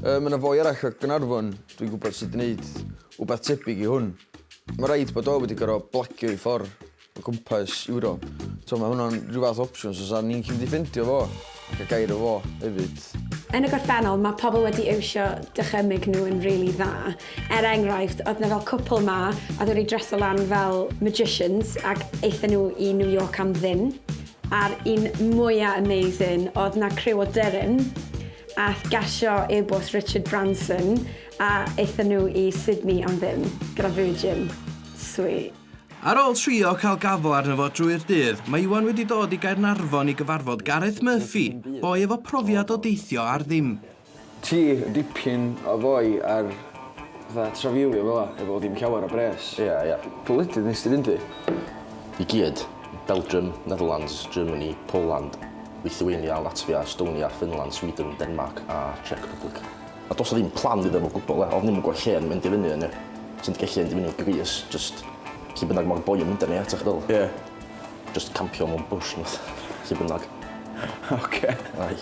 Yy, mae yna foi arall o Gnarfon, dwi'n gwybod sydd wedi gwneud wbeth tebyg i hwn. Mae rhaid bod o wedi gorau blagio i ffordd o gwmpas Ewrop. So mae hwnna'n rhyw fath opsiwn, so sa'n ni'n gallu mynd i ffeindio fo. Ac a gair o fo hefyd. Yn y gorffennol, mae pobl wedi iwsio dychymyg nhw yn rili dda. Er enghraifft, oedd 'na fel cwpl 'ma oedd wedi dreso lan fel magicians ac aethon nhw i New York am ddim. A'r un mwya amazing, oedd 'na criw o dyrym ath gasio e-bost Richard Branson a aethon nhw i Sydney am ddim gyda Virgin. Sweet. Ar ôl trio cael gafl arno fo drwy'r dydd, mae Iwan wedi dod i Gaernarfon i gyfarfod Gareth Murphy, boi efo profiad o deithio ar ddim. Ti dipyn o foi ar fatha trafeilio fela efo dim llawer o bres. Ia ia. Pa wledydd nest ti fynd i? I gyd. Belgium, Netherlands, Germany, Poland, Lithuania, Latvia, Estonia, Finland, Sweden, Denmarc a Czech Republic. A does 'na ddim plan iddo fo gwbl e, odd ddim yn gwbod lle o'n i'n mynd i fyny yn e. Ti'n gallu mynd i fyny i Greece jyst lle bynnag ma'r boi yn mynd â ni eto ch'meddwl? Ie. Jyst campio mewn bush ne' wbath lle bynnag. Oce. Aye.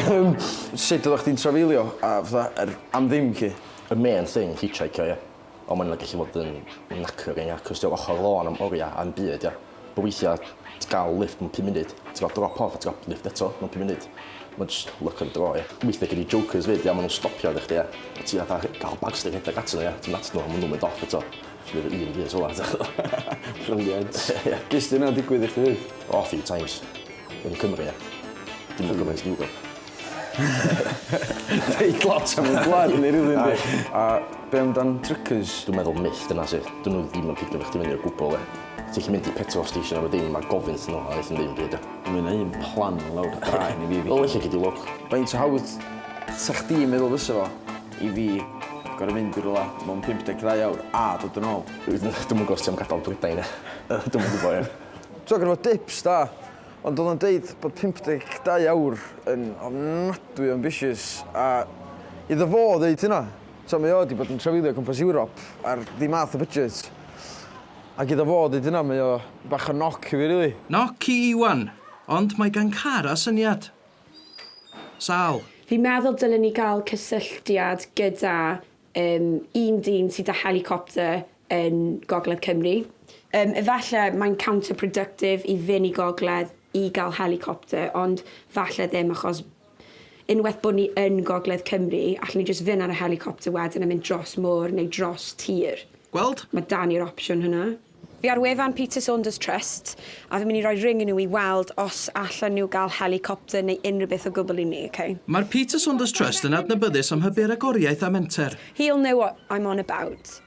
Yym sud oddach chdi'n trafeilio a fatha yr am ddim 'lly? Y main thing hitshheicio ie. Ond mae'n gallu fod yn knackering ia, cos ti'n ochr lôn am oriau am byd ia. Bo weithiau ti'n cael lift mewn pum munud, ti'n cael drop off a ti'n cael lift eto mewn pum munud. Mae'n just luck of the draw ia. Weithiau gen i jokers fyd ia, maen nhw'n stopio arna chdi ia. A ti fatha cael bagsti rhedeg atyn nhw ia, ti'n mynd atyn nhw a maen nhw'n mynd off eto. Alli di efo un bys fel'a ti'n gwbod. Brilliant. Ges di hynna'n digwydd i chdi? O a few times. Yn Cymru ia. Dim yn gymaint yn Ewrop. Deud lot am y gwlad yn Eryri yndi? Aye. A be' amdan Drykers? Dwi'n meddwl myth dyna sydd. 'Dyn nhw ddim yn pigo chdi fyny o gwbl de. Ti'n gallu mynd i petrol station efo dim a gofyn wrthyn nhw a neith nhw ddim deud o. Ma' hynna un plan lawr dy draen i fi Vicky. Wel ella gei di lwc. Faint o hawdd 'sa chdi'n meddwl fysa fo i fi gor'o' fynd i rywla mewn 52 awr a dod yn ôl? Dwi'm yn gwbo os ti am gadal Prydain. Yy dwi'm yn gwbo ie. T'mo' gorfod dips da. Ond oedd o'n deud bod 52 awr yn ofnadwy o ambisiys a iddo fo ddeud hynna, tibod mae o 'di bod yn trafeilio o gwmpas Ewrop ar ddim math o budget ac iddo fo ddeud hynna mae o bach o knock i fi rili. Knock i Iwan! Ond mae gan Cara syniad. Sal. Fi'n meddwl dylen ni gael cysylltiad gyda yym un dyn sydd 'da helicopter yn Gogledd Cymru. Yym, efalle mae'n counter-productive i fyn' i Gogledd i ga'l helicopter, ond 'falle ddim achos unweth bo' ni yn Gogledd Cymru, allen ni jyst fyn' ar y helicopter wedyn a mynd dros môr neu dros tir. Gweld? Ma' 'da ni'r opsiwn hwnna. Fi ar wefan Peter Saunders Trust, a fi myn' i roi ring i nhw i weld os allen nhw ga'l helicopter neu unrhyw beth o gwbl i ni, ok? Mae'r Peter Saunders Trust yn adnabyddus am hybu ragoriaeth a menter. He'll know what I'm on about.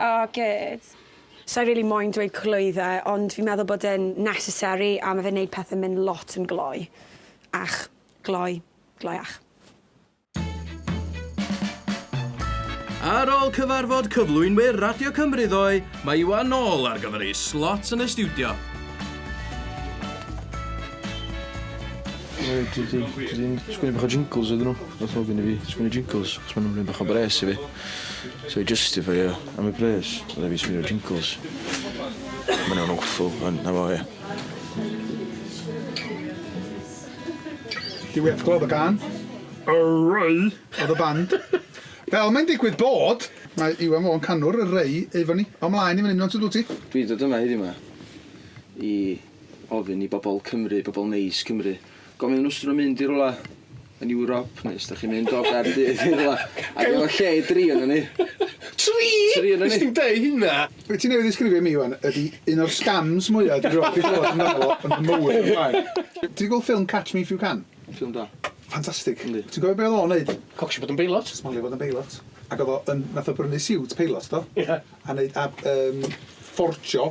Oh good. Sai rili moyn dweud clwydde ond fi'n meddwl bod e'n necessary a ma' fe'n neud pethe myn' lot yn gloi. Ach. Gloi. Gloiach. Ar ôl cyfarfod cyflwynwyr Radio Cymru ddoe, mae Iwan nôl ar gyfer ei slot yn y stiwdio. Reit dwi 'di dwi 'di sgwennu bach o jingles iddyn nw. Nath ofyn i fi sgwennu jingles achos ma' nw'n mynd bach o bres i fi. So i justifeio am y pres oedd e'n fi sbinio jingles. Ma' wnna'n awful ond 'na fo ia. Dw i heb glywed y gân. Ray oedd y band. Fel mae'n digwydd bod, mae Iwan Fôn canwr Ray efo ni. O mlaen i fan hyn rŵan dwyt ti? Dw i'n dod yma heddiw 'ma i ofyn i bobl Cymru, bobl neis Cymru, gofyn iddyn nhw os ydyn nhw'n mynd i rywle yn Ewrop neu os da chi'n mynd o Gaerdydd i rwla ac efo lle i dri o'n ni. Tri? Tri o'n ni. Nes di'm deu hynna. Be ti newydd ddisgrifio i mi wan ydi un o'r scams mwya dwi rioed di clywad amdano fo yn fy mywyd o'r blaen. Ti di gweld ffilm Catch Me If You Can? Ffilm da. Ffantastig. Yndi. Ti'n cofio be o'dd o'n neud? Cocsio bod yn beilot. Smalio bod yn beilot. Ac o'dd o yn nath o brynu siwt peilot do? Ia. A neud a yym fforgio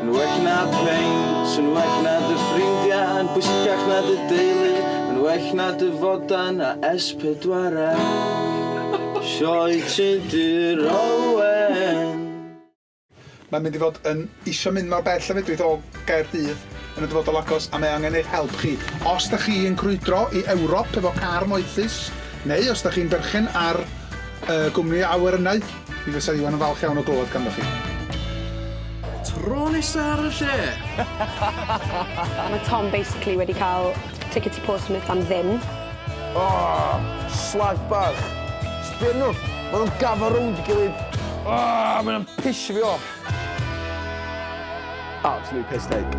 Yn well na peint, yn well na dy ffrindiau, yn bwysicach na dy deulu, yn well na dy fodan a S4C. Sioe Tudur Owen. Mae'n mynd i fod yn isio mynd mor bell a fedrith o Gaerdydd yn y dyfodol agos a mae angen eich help chi. Os da chi yn crwydro i Ewrop efo car moethus neu os da chi'n berchen ar y gwmni awyr ynnau, Mi fysa Iwan yn falch iawn o glywed ganddoch chi. Tro nesa ar y lle! Mae Tom basically wedi cael ticket i Portsmouth am ddim. Aww! Slag bach! Sbia arnyn nhw! Maen nhw'n gafal rownd ei gilydd! Aww! Maen nhw'n pisio fi off! Absolute piss take.